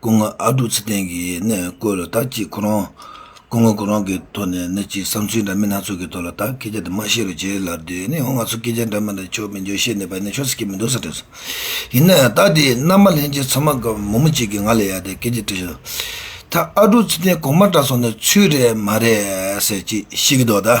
སྐུ་ངོ་ཨ་རྡོ་ཚེ་བརྟན་གྱིས་ནི་བཀོད་ལ་དྭགས་ཀྱིས་ཁོ་རང། སྐུ་ངོ་ཁོ་རང་གི་ཐོག་ནས་ནི་ཅིག་བསམ་ཚུལ་འདྲ་མིན་སྣ་ཚོགས་ཀྱི་ཐོག་ལ་དྭགས་སྐད་ཆ་དེ་མ་ཤེས་རུ་བྱེད་ལ་དུས་ནི་ཧོ་ང་ཚོ་སྐད་ཆ་འདྲ་མིན་དང་ཕྱོགས་མི་འཇོག་ཤེས་ནས་པ་ནི་ཆོ་ས་ཁྱེད་མི་འདུག་ས་དྲན་སོང། ཡིན་ནའི་ད་དེ་མནའ་མ་ལེན་རྗེས་ཚང་མ་གམ་མུ་མུ་གཅིག་གིས་ང་ལ་ཡ་དེ་སྐད་ཆ་དྲིས་བྱུང། ད་ཨ་རྡོ་ཚེ་བརྟན་གོང་མ་འདྲ་སོང་ནས་ཚུལ་རེད་མ་རེད་ཟེར་གྱིས་ཤི་གི་འདུག་ད།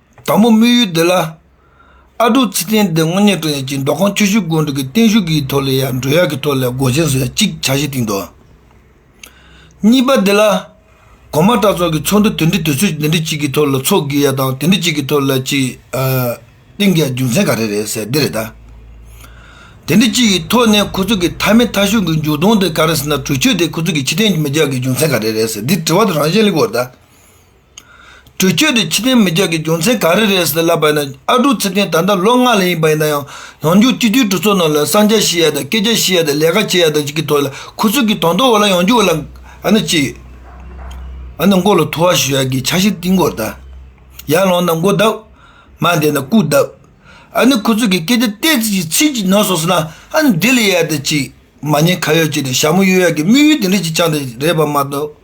དང་པོ་དམིགས་ཡུལ་འདི་ལ། ཨ་ཀྲུག་ཚེ་བརྟན་འདི་དངོས་གནས་སྤྲོ་ཡག་ཅིག་མདོ་ཁམས་ཁྱོ་ཤུག་དགོན་དྲུག་གི་བརྟན་བཞུགས་ཀྱི་ཐོག་ལས་ཡག་འགྲོ་ཡག་གི་ཐོག་ལས་སྒོ་ཆེན་བཟོ་ཡག་ཅིག་བྱ་གཞི་གཏིང་དོ། གཉིས་པ་འདི་ལ། གོང་མ་གྲྭ་ཚོགས་ཀྱི་ཚོགས་འདུ་དེ་འདྲི་དུས་ཚོད་དེ་འདྲི་གཅིག་གི་ཐོག་ལ་ཚོགས་དགོས་ཡག་དང་དེ་འདྲི་གཅིག་གི་ཐོག་ལ་ཅིག་གཏིང་གི་རྒྱུ་མཚན་ག་རེ་རེད་ཟེར་འདི་རེད་ད། དེ་འདྲི་གཅིག་གི་ཐོག་ནས་ཁོ་ཚོ་གི་མཐའ་མེད་མཐའ་ཤུགས་ཀྱི་འཇུག་ལྡོང་དེ་ག་རེ་ཟེར་ན་གྲོས་ཆོད་དེ་ཁོ་ཚོ་གི་ཕྱི་དྲན་གྱི་མི་རྒྱག་གི་རྒྱུ་མཚན་ག་རེ་རེད་ཟེར་འདི་དྲི་བ་དང་རང་བཞིན་གླེང་བར་གདའ། འགྲུལ་སྐྱོད་དེ་ཕྱི་དྲིལ་མི་རྒྱག་གི་རྒྱུ་མཚན་ག་རེ་རེད་ཟེར་ལབ་པ་ན་ཨ་ཀྲུག་ཚེ་བརྟན་ད་ལྟ་ལོ་ལྔ་ལྷག་ཡིན་པ་ཡིན་ན་ཡང་ཡང་རྒྱུག་སྤྱི་འཐུས་གྲོས་ཚོགས་ནང་ལ་གསང་རྒྱ་ཞུས་ཡ་དང་སྐད་ཆ་ཞུས་ཡ་དང་ལས་ཀ་བྱས་ཡ་དང་གི་ཐོག་ལ་ཁུ་ཚུར་གྱི་དོང་ཐོག་འོག་ལ་ཡང་རྒྱུག་ལ་ཨ་ན་ཅི་ཨ་ན་མགོ་ལ་ཐུ་བ་ཞུ་ཡ་གི་ཆ་ཞིག་བཏིང་མགོ་བརྡ་ཡར་ལངས་ན་མགོ་བརྡབ་མར་འདེད་ན་སྐུ་བརྡབ་ཨ་ནི་ཁུ་ཚུར་གྱི་སྐད་ཆ་སྟེ་ཚིག་གཅིག་ཚིག་གཅིག་ནོར་སོང་ཟེར་ན་ཨ་ན་བདེ་ལེ་ཡ་དང་ཅི་མ་ཉེས་ཁ་ཡོད་ཅིག་དང་ཞྭ་མོ་གཡོ་ཡ་གི་དམིགས་ཡུལ་དེ་འདྲ་ཞིག་ཆགས་འདི་རེད་པ་མ་གཏོགས།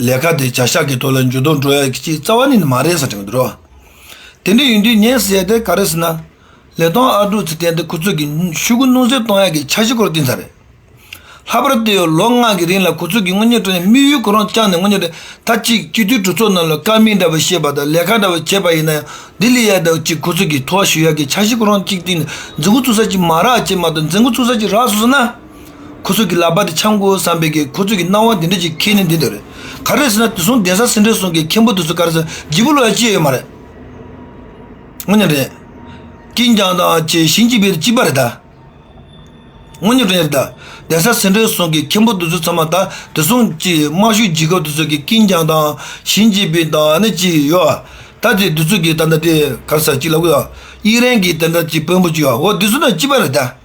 ལས་ཀ་དེ་བྱ་ཤག་གི་ཐོག་ལ་འཇུ་བཟློག་འགྲོ་ཡག་གི་རྩ་བ་ནི་མ་རེད་ཟེར་གྱི་འདུག་དེ་འདྲ་ཡིན་དུས་ངས་ཟེར་དེ་ག་རེ་ཟེར་ན་ལས་དོན་ཨ་ཀྲུག་ཚེ་བརྟན་དེ་ཁོ་ཚོས་ཀྱི་ཤུགས་རྐུ་སྣུར་སེལ་གཏོང་ཡག་གི་འཆར་གཞི་སྐོར་བཏིང་ཚར་རེད་ལྷག་པར་དུ་ལོ་ལྔ་གི་རིང་ལ་ཁོ་ཚོས་ཀྱི་དངུལ་ཉོས་དྲགས་ནས་དམིགས་ཡུལ་ཁོ་རང་བཅངས་ནས་དངུལ་ཉོས་དྲགས་མཐའ་གཅིག་སྤྱི་འཐུས་གྲོས་ཚོགས་ནང་ལ་དཀའ་མིང་འདྲ་བ་བཤད་པ་དང་ལས་ཀ་འདྲ་བ་བྱས་པ་ཡིན་ན་ཡང་ལྡི་ལི་ཡག་དག་ཅིག་ཁོ་ཚོས་ཀྱི་ཐོག་ཞུགས་ཡག་གི་འཆར་གཞི་ཁོ་རང་གཅིག་བཏིང་ནས་འཛིན་འགོ་བཙུགས་ས་ཅིག་མ་རག་ཅེས་མ་གཏོགས་འཛིན་འགོ་བཙུགས་ས་ཅིག་རག་སོང་ཟེར་ན། ཁོ་ཚོས་ཀྱི་ལག་པ་དེ་འཆང་དགོས་བསམ་པས་ཀྱི་ཁོ་ཚོས་ཀྱི་སྣང་བ་འདི་འདྲ་ཅིག་ཁྱེད་ནི་འདི་ལྟར་རེད། ག་རེ་ཟེར་ན་དེ་སོང་གདན་ས་སེང་ཁྲི་སོང་གི་མཁན་པོ་དེ་ཚོ་ག་རེ་ཟེར་སྒྱིད་པོ་ལོག་ཡ་ཅི་ཡོད་མ་རེད། ངོ་ཉོན་རེད། ཀྱིན་ཀྱང་དང་བཅས་ཞིང་སྐྱིད་པའི་སྐྱིད་པ་རེད་ད། ངོ་ཉོན་རེད། གདན་ས་སེང་ཁྲི་སོང་གི་མཁན་པོ་དེ་ཚོ་ཚང་མ་ད་དེ་སོང་ཅིག་དམའ་ཤོས་སྒྱིད་སྐབས་དེ་ཚོས་ཀྱི་ཀྱིན་ཀྱང་དང་ཞིང་སྐྱིད་པའི་དང་ནི་ཅི་ཡོད་ཨ། ད་དེ་དེ་ཚོས་ཀྱི་ད་ད་དེ་ག་རེ་ཟེར་ཅིག་ལབ་གོ་ཡ། དབྱིག་རན་གྱི་དེ་འདྲ་ཅིག་བོན་པོ་ཅིག་ཡོད་ཨོ་དེ་ཚོ་ནི་སྐྱིད་པ་རེད་ད།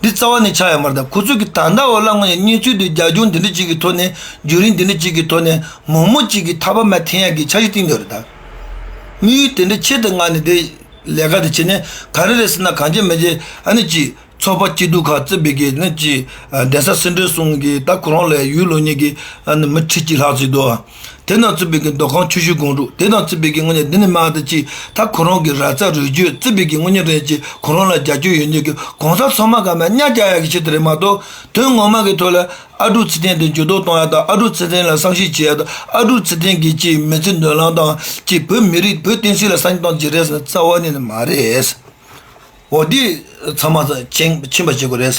འདི་རྩ་བ་ནས་ཆགས་ཡོད་པར་དང་ཁོ་ཚོས་ཀྱི་ད་ལྟ་འོ་ལ་ང་ཡི་གཉེན་ཚུལ་དུ་རྒྱ་ཁྱོན་འདི་འདྲ་གཅིག་གི་ཐོག་ནས་རྒྱུན་རིང་འདི་འདྲ་གཅིག་གི་ཐོག་ནས་མོག་མོག་གཅིག་གི་ཐག་པ་མ་འཐེན་ཡག་གི་འཆར་གཞི་བཏིང་འདོད་རེད་ད། དམིགས་ཡུལ་དེ་འདྲ་ཆེད་དུ་ང་ནི་དེ་ལས་ཀ་དེ་བྱེད་ནས་ག་རེ་རེད་ཟེར་ན་གང་བྱེད་མི་བྱེད་ཨ་ནི་གཅིག་ཚོགས་པ་སྐྱིད་སྡུག་ཁག་བརྩི་བའི་གི་ནི་གཅིག་གདན་ས་སྲིད་འབྲེལ་གསུམ་གྱི་ད་ཁོ་རང་ལས་ཡུལ་ལོ་གཉིས་ཀྱི་ཨ་ནི་མི་ཁྲི་གཅིག་ལྷག་བརྩིས་འདུག་ཨ། དེ་རྣམས་རྩིས་པས་ཀྱི་མདོ་ཁང་ཆུ་ཤུལ་སྒང་དྲུག་དེ་དང་རྩིས་པས་ཀྱི་དངོས་གཉེར་འདི་ནི་མང་སྟེ་གཅིག་ད་ཁོ་རང་གི་ར་རྩ་རུས་རྒྱུད་རྩིས་པས་ཀྱི་དངོས་གཉེར་རེད་ཅེས་ཁོ་རང་ལ་རྒྱ་ཁྱོད་ཡོད་ཉིད་ཀྱི་གང་ཟག་ཚང་མ་ག་མ་ཉག་རྒྱ་ཡག་གི་ཆེད་དུ་རེད་མ་གཏོགས་དོན་ངོ་མ་གི་ཐོག་ལ་ཨ་ཀྲུག་ཚེ་བརྟན་དེ་འགྱུར་ལྡོག་གཏོང་ཡག་དང་ཨ་ཀྲུག་ཚེ་བརྟན་ལ་བསམ་ཤེས་བྱེད་ཡག་དང་ཨ་ཀྲུག་ཚེ་བརྟན་གྱིས་ཅིས་མི་ཚེ་འདོན་ལམ་དང་ཅིས་བོད་མི་རིགས་བོད་བསྟན་སྲིད་ལ་བསམ་གཏང་བྱེད་རེད་ཟེར་ན་རྩ་བ་ནས་ནི་མ་རེད་འོ་འདི་ཚང་མ་ཚང་མ་ཕྱིན་པ་བྱེད་དགོས་རེད།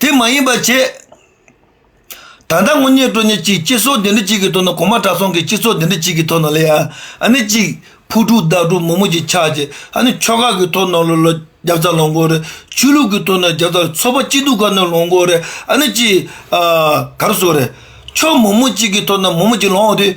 དེ་མ་ཡིན་པར་བྱས། ད་ལྟ་དངོས་གཉེན་སྤྲོ་ཉེ་གཅིག་སྤྱི་ཚོགས་འདི་འདྲ་གཅིག་གི་ཐོག་ན་གོང་མ་གྲྭ་ཚང་གི་སྤྱི་ཚོགས་འདི་འདྲ་གཅིག་གི་ཐོག་ན་ལ་ཡང་ཨ་ནི་གཅིག་ཕུ་དཀྲུག་བདག་དཀྲུག་མོ་མོ་གཅིག་ཆགས་ཅིག་ཨ་ནི་ཕྱོགས་ཁག་གི་ཐོག་ན་ལོ་ལོ་རྒྱབ་རྩ་ལོ་མགོ་རེ་ཆོས་ལུགས་ཀྱི་ཐོག་ན་རྒྱབ་རྩ་ཚོ་པ་སྐྱིད་སྡུག་ཁག་ན་ལོ་མགོ་རེ་ཨ་ནི་གཅིག་གར་སོ་རེ་ཕྱོགས་མོ་མོ་གཅིག་གི་ཐོག་ན་མོ་མོ་གཅིག་ལོངས་ཏེ་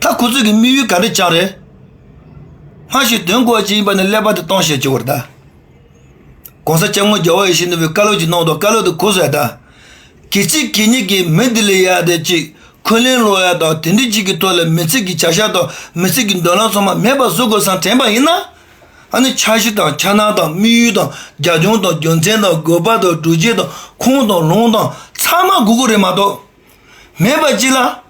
ད་ཁོ་ཚོས་ཀྱི་དམིགས་ཡུལ་ག་རེ་ཅག་རེད། སྔར་བཞིན་དོན་གོ་བ་ཅན་ཡིན་པ་ནི་ཀླད་པ་དུ་གཏོང་བཤད་བྱེད་དགོས་རེད། གོང་ས་སྐྱབས་དངོས་རྒྱལ་བ་ཡེ་ཤེས་ནོར་བུས་བཀའ་སློབ་ཅིག་གནང་དོག་བཀའ་སློབ་དེ་གོ་བཟའ་དང། གལ་ཆེ་གལ་གཉིས་ཀྱི་མི་འདི་ལས་ཡག་དེ་གཅིག་འཁོན་ལན་སློག་ཡ་དང་དེ་འདི་གཅིག་གི་ཐོག་ལ་མི་ཚེ་གི་བྱ་བཞག་དང་མི་ཚེ་གི་འདོད་ལམ་ཚང་མ་མེད་པ་བཟོ་དགོས་བསམ་དྲན་པ་ཡིན་ན། ད་ནི་འཆར་གཞི་དང་འཆར་སྣང་དང་དམིགས་ཡུལ་དང་རྒྱ་ཁྱོན་དང་རྒྱུ་མཚན་དང་དགོས་པ་དང་གྲུ་ཆད་དང་ཁུངས་དང་ལུང་དང་ཚང་མ་སྒུག་དགོས་རེད་མ་གཏོགས། མེད་པ་གཅིག་ལ།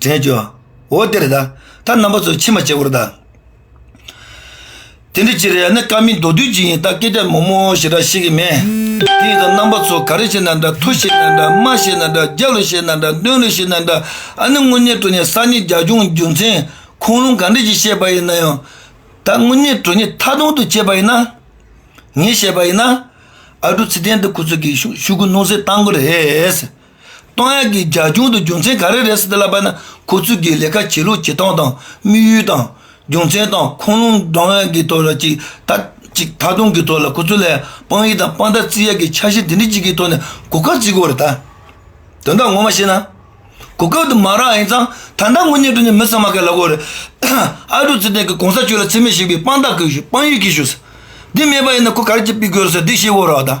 དྲན་བྱོས། འོ་དེར་ད་ལྟ་རྣམ་པ་ཚོས་ཕྱི་མ་བྱེད་པོར་གདའ། དེ་འདྲ་ཅི་རེད་ཡ་ནི་ཀ་མིན་མདོ་དུས་ཅི་ཡིན་ད་སྐད་ཆ་མོག་མོག་ཞེ་དྲག་བཤད་ཀྱི་མེད། དེ་ཡིན་ན་རྣམ་པ་ཚོ་ག་རེ་བཤད་ན་འདྲ་མཐོ་བཤད་ན་འདྲ་དམའ་བཤད་ན་འདྲ་རྒྱ་ལོ་བཤད་ན་འདྲ་སྟོན་ལོ་བཤད་ན་འདྲ་ཨ་ནི་དངོས་གནས་དྲོ་ནས་གསར་རྙིང་རྒྱ་སྐྱོང་རྒྱུ་མཚན་ཁུངས་ལུང་ག་འདྲ་ཞིག་བཤད་པ་ཡིན་ན་ཡང་ད་དངོས་གནས་དྲོ་ནས་མཐའ་སྟོང་དུ་བྱས་པ་ཡིན་ན་ངས་བཤད་པ་ཡིན་ན་ཨ་དྲོ་ཚེ་བརྟན་འདི་ཁོ་ཚོ་གིས་ཤུགས་ཀུན་སྣོན་སེ་བཏང་གི་རེད། ཏང་ཡོན་གྱིས་རྒྱ་གཞུང་དུ་རྒྱུ་མཚན་ག་རེ་རེད་ཟེར་ཏེ་བསླབ་པ་ན་ཁོ་ཚོས་ཀྱི་ལས་ཀ་བྱེད་ལུགས་བྱེད་སྟངས་དང་དམིགས་ཡུལ་དང། རྒྱུ་མཚན་དང་ཁུངས་ལུང་སྒྲོག་ཡག་གི་ཐོག་ལ་ཅིག་ད་དུང་གི་ཐོག་ལ་ཁོ་ཚོ་ལ་དཔང་ཡིག་དང་དཔང་རྟགས་རྩིས་ཡག་གི་འཆར་གཞི་འདི་འདྲི་གཅིག་གི་ཐོག་ནས་གོ་སྐབས་རྩིས་དགོས་རེད་ད། དོན་དག་ངོ་མ་བཤད་ན། གོ་སྐབས་དུ་མ་རག་ཡིན་ཙང་ད་ལྟ་དངོས་གཉེར་དུ་ནི་མི་ཚང་མ་ག་ལ་དགོས་རེད། ཨ་ཀྲུག་ཚེ་བརྟན་གྱིས་གོང་ས་ཆོས་ལ་འཚེ་མེད་ཞིག་པའི་དཔང་རྟགས་དཔང་ཡིག་གིས་ཞུ་ཟེར། འདི་མེད་པ་ཡིན་ན་ཁོ་ག་རེ་ཅིག་པི་དགོས་རེད་ཟེར་འདི་ཤེས་དགོས་རོགས་ད།